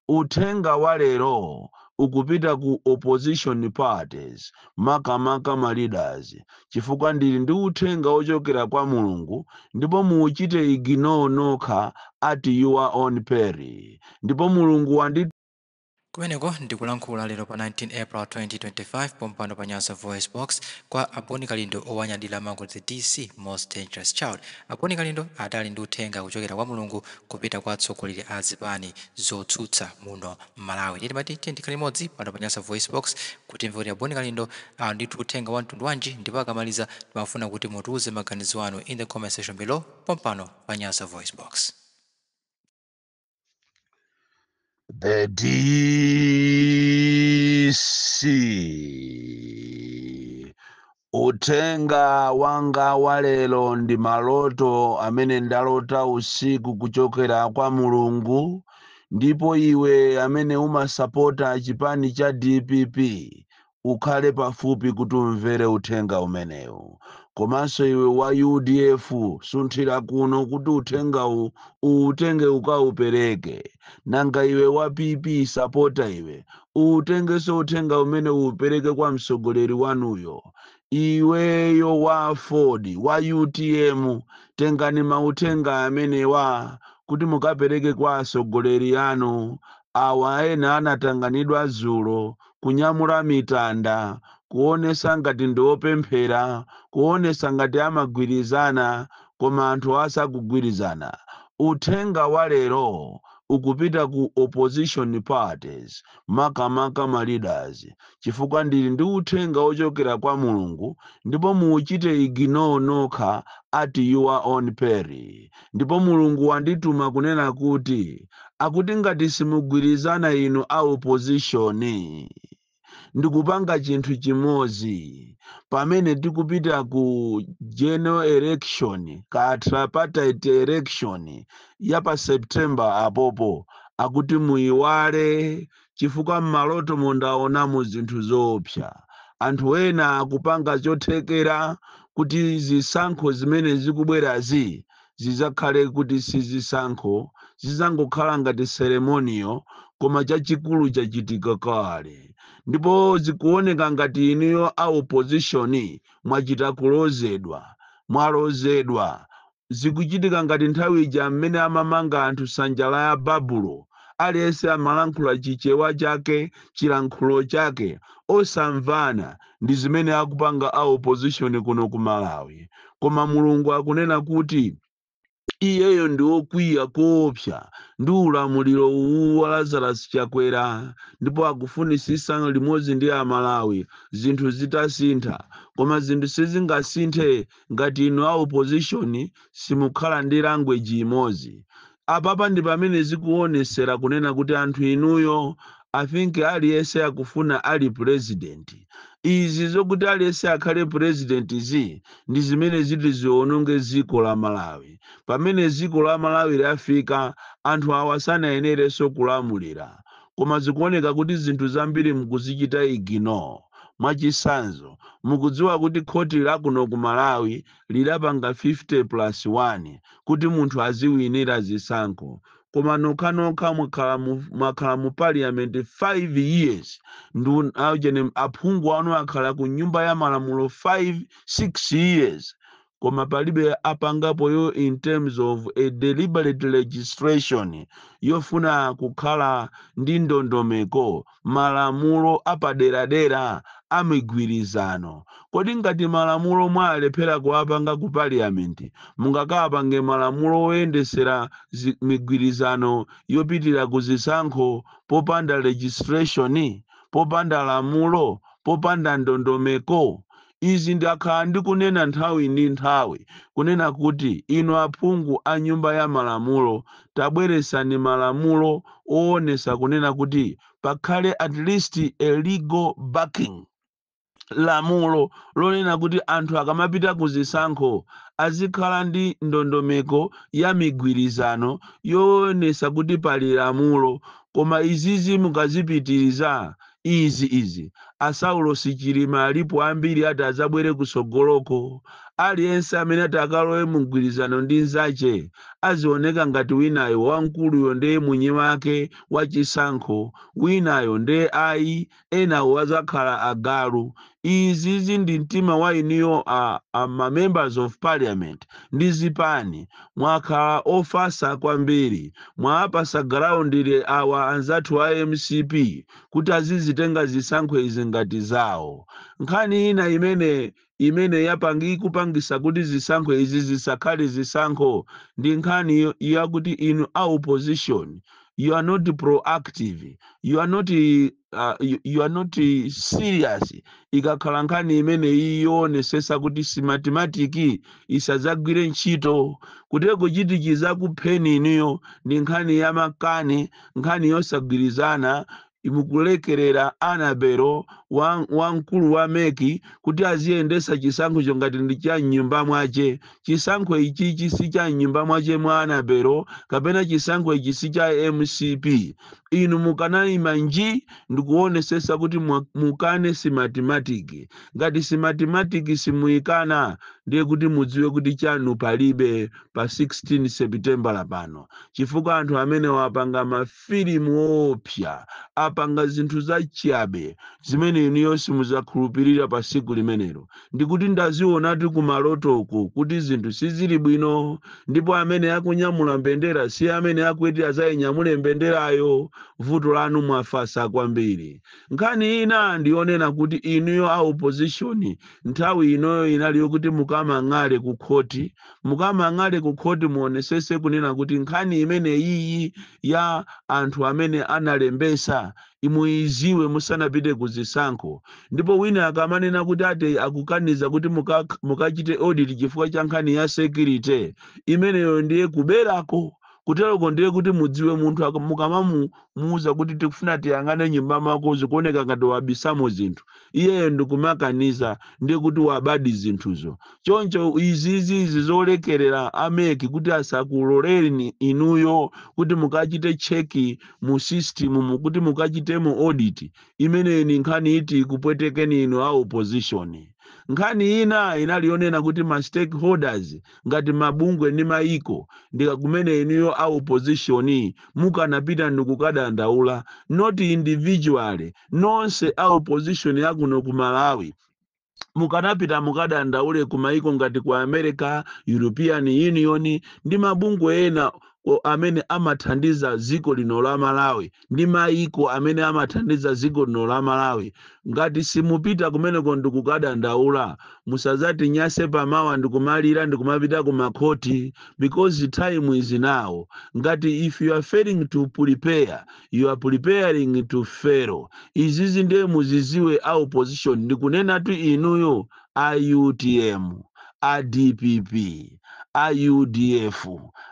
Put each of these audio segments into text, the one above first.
Uthenga wa lero ukupita ku opposition parties makamaka ma leaders chifukwa ndili ndi uthenga ochokera kwa Mulungu ndipo muuchite ignore nokha at your own peril ndipo Mulungu wandi. Kumeneko ndi kulankhula lero pa 19 April 2025 pompano pa Nyasa VoiceBox kwa a Boni Kalindo owanyadila amangozi DC most dangerous child A Boni Kalindo adali ndi uthenga kuchokera kwa Mulungu kupita kwa atsogoleri a zipani zotsutsa muno m'Malawi. Ndiye timati tiyeni tikhale limodzi pano pa Nyasa VoiceBox kuti timve kuti a Boni Kalindo ali ndi uthenga wa mtundu wanji ndipo akamaliza timafuna kuti mutiuze maganizo anu in the comment section below pompano pa Nyasa VoiceBox. The DC Uthenga wanga wa lero ndi maloto amene ndalota usiku kuchokera kwa Mulungu ndipo iwe amene umasapota chipani cha DPP ukhale pafupi kuti umvere uthenga umenewu. Komanso iwe wa udf sunthira kuno kuti uthengawu uwutenge ukawupereke. Nanga iwe wa PP sapota iwe, uwutengenso uthenga umene uwupereke kwa mtsogoleri wanuyo? Iweyo wa aford, wa utm tengani mauthenga amenewa kuti mukapereke kwa atsogoleri anu awa ena anatanganidwa dzulo kunyamula mitanda, kuonesa ngati ndi opemphera, kuonesa ngati amagwirizana koma anthuwa sakugwirizana. Uthenga wa lero ukupita ku opposition parties makamaka ma leaders chifukwa ndili ndi uthenga ochokera kwa Mulungu ndipo muuchite ignore nokha at your own peril. Ndipo Mulungu wandituma kunena kuti akuti ngati simugwirizana inu a opposition ndikupanga chinthu chimodzi pamene tikupita ku general election kaya tripartite election ya pa September apopo akuti muyiwale chifukwa m'malotomo ndaonamo zinthu zoopsa. Anthu ena akupanga chothekera kuti zisankho zimene zikubwerazi zidzakhale kuti si zisankho, zidzangokhala ngati ceremonial, koma chachikulu chachitika kale. Ndipo zikuoneka ngati inuyo a opposition mwachita kulozedwa. Mwalozedwa. Zikuchitika ngati nthawi ija m'mene amamanga anthu nsanja ya Babulo, aliyense amalankhula chichewa chake, chilankhulo chake, osamvana, ndizimene akupanga a opposition kuno ku Malawi. Koma Mulungu akunena kuti iyeyo ndi okwiya koopsa ndi ulamuliro uwu wa Lazarus Chakwera ndipo akufunisisa limodzi ndi a Malawi zinthu zitasintha. Koma zinthu sizingasinthe ngati inu a opposition simukhala ndi language imodzi. Apapa ndipamene zikuonesera kunena kuti anthu inuyo I think aliyese akufuna ali president. Izi zokuti aliyese akhale president zi ndi zimene ziti ziononge dziko la Malawi. Pamene dziko la Malawi lafika anthu awa sanayenereso kulamulira. Koma zikuoneka kuti zinthu zambiri mukuzichita ignore. Mwachisanzo, mukudziwa kuti khoti la kuno ku Malawi lidapanga 50 plus 1 kuti munthu aziwinira zisankho. Koma nokhanokha mwakhala mu parliament 5 years ndu aujeni aphungu anu akhala ku nyumba ya malamulo 5, 6 years. koma palibe apangapo yo in terms of a deliberate legislation yofuna kukhala ndi ndondomeko malamulo apaderadera a migwirizano kodi ngati malamulo mwalephera kuwapanga ku parliament mungakapange malamulo oyendesera migwirizano yopitira ku zisankho popanda legislation popanda lamulo popanda ndondomeko Izi ndakhala ndikunena nthawi ndi nthawi kunena kuti inu aphungu a nyumba ya malamulo tabweresani malamulo oonesa kunena kuti pakhale at least a legal backing, lamulo lonena kuti anthu akamapita ku zisankho azikhala ndi ndondomeko ya migwirizano yoonesa kuti pali lamulo koma izizi mukazipitiriza izi izi a saulosi chilima alipo ambiri ati adzabwere kusogoloko aliyense amene ati akalowe mu mgwirizano ndi nzache azioneka ngati winayo wamkuluyo nde mwini wake wa chisankho winayo nde ayi enawo azakhala agalu izizi ndi mtima wa inuyo a, a ma members of parliament ndi zipani mwakhala ofasa kwambiri mwaapasa ground awa anzathu a mcp kuti azizitenga zisankho izi ngati zawo nkhani ina imene imene yapangi ikupangisa kuti zisankho izi zisakhale zisankho ndi nkhani yakuti inu a opposition you are not proactive you are not uh, you, you are not eh, serious ikakhala nkhani imeneyi yoonesesa kuti smartmatic isadzagwire ntchito kuteroko chiti chizakupheni inuyo ndi nkhani ya makani nkhani yosagwirizana mukulekerera annabel wa- wamkulu wa mec kuti aziyendesa chisankhocho ngati ndi cha mnyumba mwache chisankho ichichi si cha mnyumba mwache mwa annabel kapena chisankho ichi si cha mcp inu mukanaima nji ndikuonesesa kuti mwa, mukane smartmatic ngati smartmatic simuikana ndiye kuti mudziwe kuti chanu palibe pa 16 sepitembala pano chifukwa anthu amenewa apanga mafilimu oopsa apanga zinthu zachabe zimene inuyo simudzakhulupirira pa siku limenelo ndikuti ndazionatu kumalotoko kuti zinthu sizilibwino ndipo amene akunyamula mbendera si amene akuti azayinyamule mbenderayo vuto lanu mwafasa kwambiri nkhani ina ndiyonena kuti inuyo a opposition nthawi inoyo inali yokuti mukamang'ale ku khoti mukamang'ale ku khoti muonesese kunena kuti nkhani imeneyiyi ya anthu amene analembesa i muiziwe musanapite ku zisankho ndipo wina akamanena kuti ati akukaniza kuti mukak mukachite audit chifukwa cha nkhani ya security imeneyo ndiye kuberako kuteroko ndiye kuti mudziwe munthu ak mukamamu muuza kuti tikufuna tiyang'ane mnyumba mwako zikuoneka ngati wabisamo zinthu iyeyo ndikumakaniza ndiye kuti wabadi zinthuzo choncho izizi izi zolekerera a mec kuti asakuloleni inuyo kuti mukachite check mu system mu kuti mukachitemo audit imeneyi ni nkhani iti ikupwetekeni inu a opposition nkhani ina inali yonena kuti ma stakeholders ngati mabungwe ndi mayiko ndikakumene inuyo a opposition mukanapita ndikukadandaula not individually nonse a opposition yakuno ku malawi mukanapita mukadandaule ku mayiko ngati ku america european union ndi mabungwe ena o- amene amathandiza dziko lino la malawi ndi maiko amene amathandiza dziko lino la malawi ngati simupita kumeneko ndikukadandaula musazatinyase pamawa ndikumalira ndikumapita ku makhoti because time is now ngati if you are failing to prepare you are preparing to fail izizi ndiye muziziwe a opposition ndikunenatu inuyo a utm, a dpp, a udf,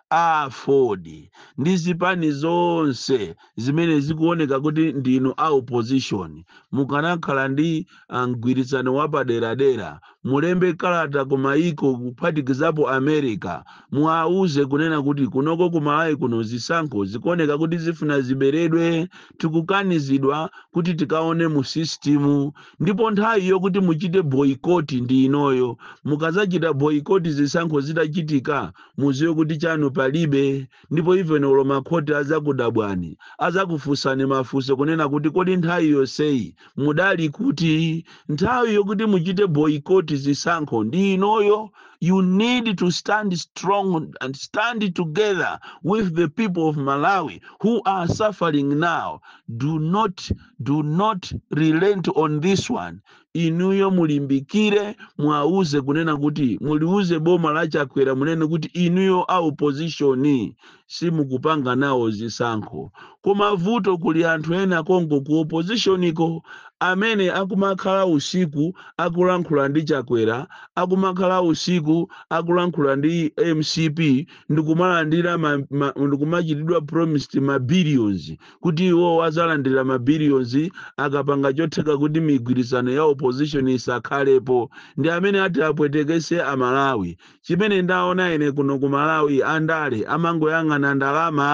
a aford ndi zipani zonse zimene zikuoneka kuti ndinu a opposition mukanakhala ndi ah, mgwirizano wapaderadera mulembe kalata ku mayiko kuphatikizapo america muwauze kunena kuti kunoko ku malawi kuno zisankho zikuoneka kuti zifuna ziberedwe tikukanizidwa kuti tikaone mu system ndipo nthawi yokuti muchite boycott ndi inoyo mukazachita boycott zisankho zitachitika muziwe kuti chanu palibe ndipo even olo makhoti azakudabwani azakufunsani mafunso kunena kuti kodi nthawi yonseyi mudali kuti nthawi yokuti muchite boycott zisankho ndi inoyo you need to stand strong and stand together with the people of malawi who are suffering now do not do not relent on this one inuyo mulimbikire mwauze kunena kuti muliuze boma la chakwera munene kuti inuyo a opposition simukupanga nawo zisankho koma vuto kuli anthu ena konko ku opposition ko amene akumakhala usiku akulankhula ndi Chakwera akumakhala usiku akulankhula ndi mcp ndikumalandira ma, ma, ndikumachitidwa promised ma billions kuti iwo azalandira ma billions akapanga chotheka kuti migwirizano ya opposition isakhalepo ndi amene ati apwetekese amalawi Chimene ndaona ine kuno ku Malawi andale amangoyang'ana ndalama.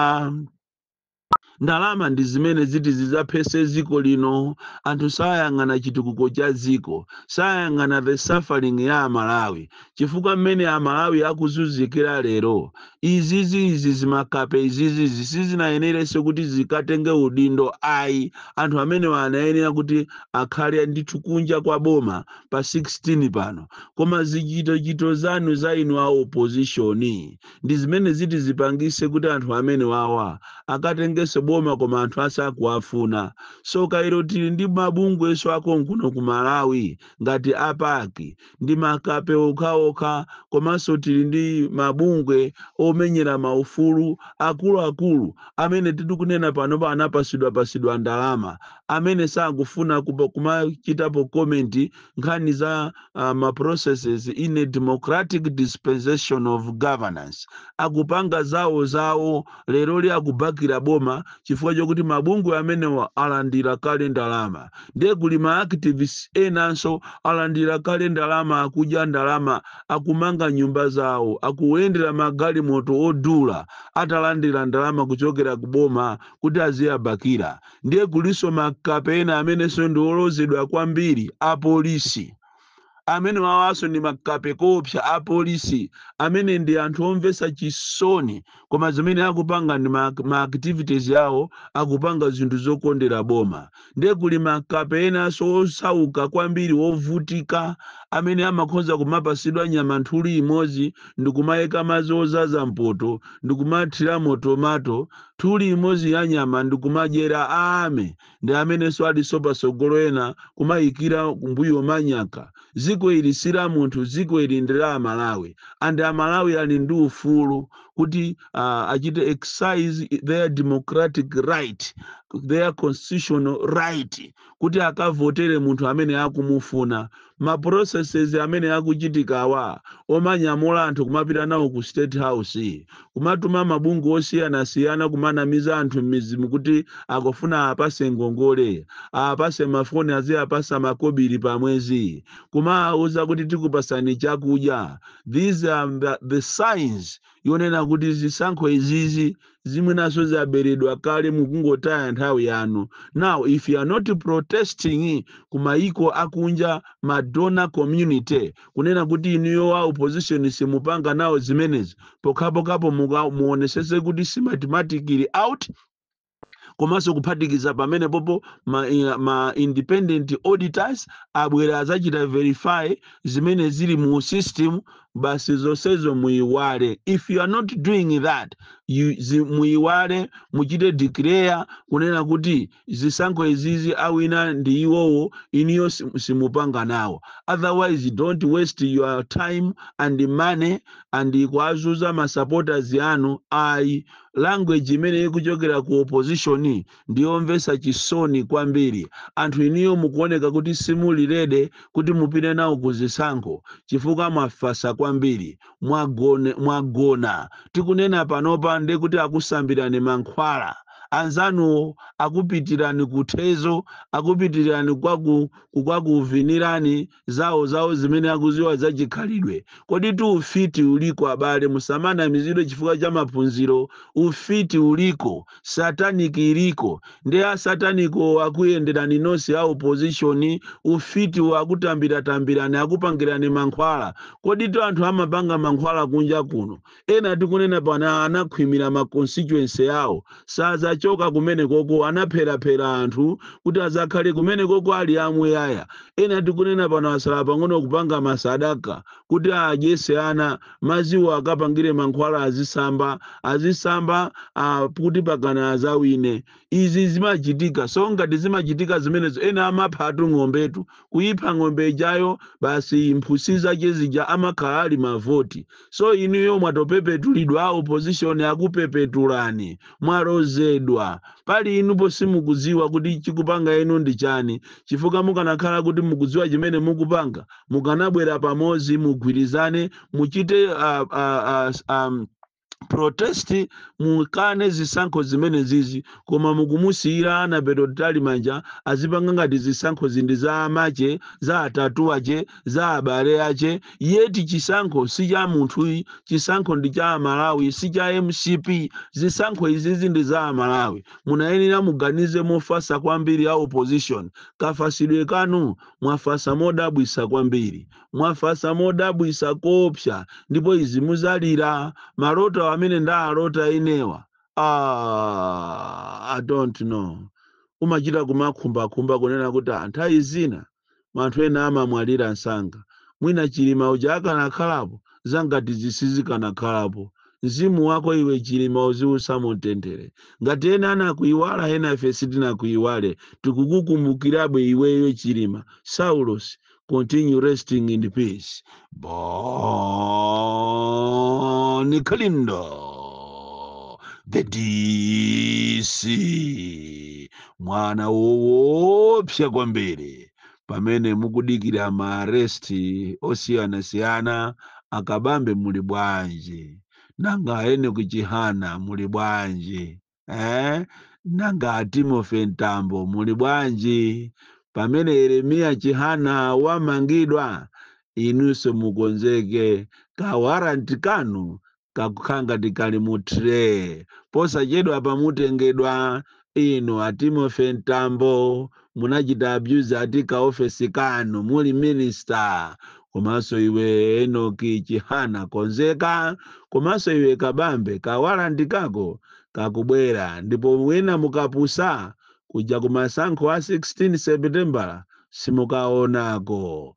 Ndalama ndi zimene ziti zidzaphese dziko lino. Anthu sayang'ana chitukuko cha dziko. Sayang'ana the suffering ya aMalawi. Chifukwa mmene aMalawi akuzunzikira lero, izizi izi zimakape izizizi sizinayenerenso kuti zikatenge udindo ayi. Anthu amene anayenera kuti akhale ndithu kunja kwa boma. pa 16 pano koma zichitochito zanu za inu a opposition ndi zimene ziti zipangise kuti anthu amenewawa akatengenso boma koma anthu asakuwafuna so kairo tili ndi mabungwenso akonkuno ku malawi ngati a PAC ndi makape okhaokha komanso tili ndi mabungwe omenyera maufulu akuluakulu amene titikunena panopa anapasidwapasidwa ndalama amene sakufuna kupa- kumachitapo comment nkhani za uh, ma processes in a democratic dispensation of governance akupanga zawo zawo leroli akubakira boma chifukwa chokuti mabungwe amenewa alandira kale ndalama ndiye kuli ma activists enanso alandira kale ndalama akudya ndalama akumanga nyumba zawo akuyendera magalimoto odula atalandira ndalama kuchokera ku boma kuti aziyabakira ndiye kulinso makape ena amenenso ndi olozedwa kwambiri apolisi amenewawanso ndi makape koopsa apolisi amene ndi anthu omvetsa chisoni koma zimene akupanga ndi ma, ma activities awo akupanga zinthu zokondera boma ndiye kuli makape enanso osauka kwambiri wovutika amene amakhoza kumapasidwa nyama nthuli imodzi ndikumayika madzi ozaza mpoto ndikumathiramo tomato Tuli imozi ya nyama ndi kumadyera amene ndi ameneso aliso pasogolo ena kumayikira kumbuyo manyaka ziko ili sila munthu ziko ili ndi la Amalawi and Amalawi ali ndi ufulu kuti uh, achite exercise their democratic right their constitutional right kuti akavotere munthu amene akumufuna. Ma processes amene akuchitikawa omanyamula anthu kumapita nawo ku state house, kumatuma mabungwe osiyanasiyana kumanamiza anthu m'mizimu kuti akufuna aapase ngongole, aapase mafoni aziapasa makobiri pa mwezi, kumaauza kuti tikupasani chakudya, these are the signs yonena kuti zisankho izizi zimwenaso zaberedwa kale mukungotaya nthawi yanu now if you are not protesting kumayiko akunja ma donor community kunena kuti inuyo wa opposition simupanga nawo zimenezi pokhapokhapo muonesese kuti si mathematically out komanso kuphatikiza pamenepopo ma, eh, ma independent auditors abwere azachita verify zimene zili mu system basi zonsezo muyiwale if you are not doing that muyiwale muchite declare kunena kuti zisankho izizi awina ndi iwowo inuyo sim- simupanga nawo otherwise don't waste your time and money and kuazuza ma supporters anu ayi language imene ikuchokera ku opposition ndi yomvesa chisoni kwambiri anthu inuyo mukuoneka kuti simuli ready kuti mupite nawo ku zisankho chifukwa mwafasa kwambiri mwagone, mwagona tikunena panopa nde kuti akusambirani mankhwala anzanuwo akupitirani kuthezo akupitirani kwaku kwakuvinirani zawo zawo zimene akuziwa za chikhalidwe. Koditu ufiti uliko abale musamanamizidwe chifukwa cha maphunziro ufiti uliko, sataniki iliko nde a satanikiwo akuyenderani nonse a opposition a ufitiwo akutambira tambirani akupangirani mankhwala. Koditu anthu amapanga mankhwala kunja kuno Ena tikunena pano anakhwimira ma constituency yawo. Sazachoka kumenekoko, anapheraphera anthu kuti azakhale kumenekoko ali amuyaya. Ena tikunena pano asala pang'ono kupanga masadaka kuti adyese ana, maziwo akapangire mankhwala azisamba, azisamba kuti pakana azawine. Izi zimachitika. So ngati zimachitika zimenezo ena amaphatu ng'ombetu. Kuipha ng'ombe ijayo basi mphusi zake zija amakhala ali mavoti. So inuyo mwatopepetulidwa opposition akupepetulani. Mwalozedwa. Pali inupo simukudziwa kuti chikupanga inu ndi chani chifukwa mukanakhala kuti mukudziwa chimene mukupanga mukanabwera pamodzi mugwirizane muchite a, a, a, a, protest mukane zisankho zimenezizi koma mukumusiyira Annabel Mtalimanja azipanga ngati zisankhozi ndi za amake za atate ache za abale ache yeti chisankho si cha munthu chisankho ndi cha amalawi si cha mcp zisankho izizi ndi za amalawi munayenera muganize mofasa kwambiri a opposition kafasidwe kanu mwafasa modabwisa kwambiri mwafasa modabwisa koopsa ndipo izi muzalira maloto amene ndalota inewa ah, i don't know umachita kumakhumbakhumba kunena kuti nthawi zina koma anthu ena amamwalira nsanga mwina chilima uja akanakhalapo zangati izi sizikanakhalapo mzimu wako iwe chilima uziusa mumtendere ngati ena anakuiwala ena ife sitinakuiwale tikukukumbukirabe iweyo chilima saulos continue resting in peace Bon Kalindo, the DC, mwana woopsa kwambiri pamene mukudikira maaresti osiyanasiyana a Kabambe muli bwanji nanga Enoch Chihana muli bwanji Eh? Nanga a Timothy Mtambo muli bwanji? Pamene Yeremiya Chihana wamangidwa, inunso mukonzeke ka warrant kanu kakukhala ngati kali mu tray. Posachedwapa mutengedwa inu a Timothy Mtambo munachita abuse ati ka office kanu muli minister komanso iwe Enoch Chihana konzeka komanso iwe Kabambe ka warrant kako kakubwera ndipo mwina mukapusa kuja kumasankho a 16 September simukaonako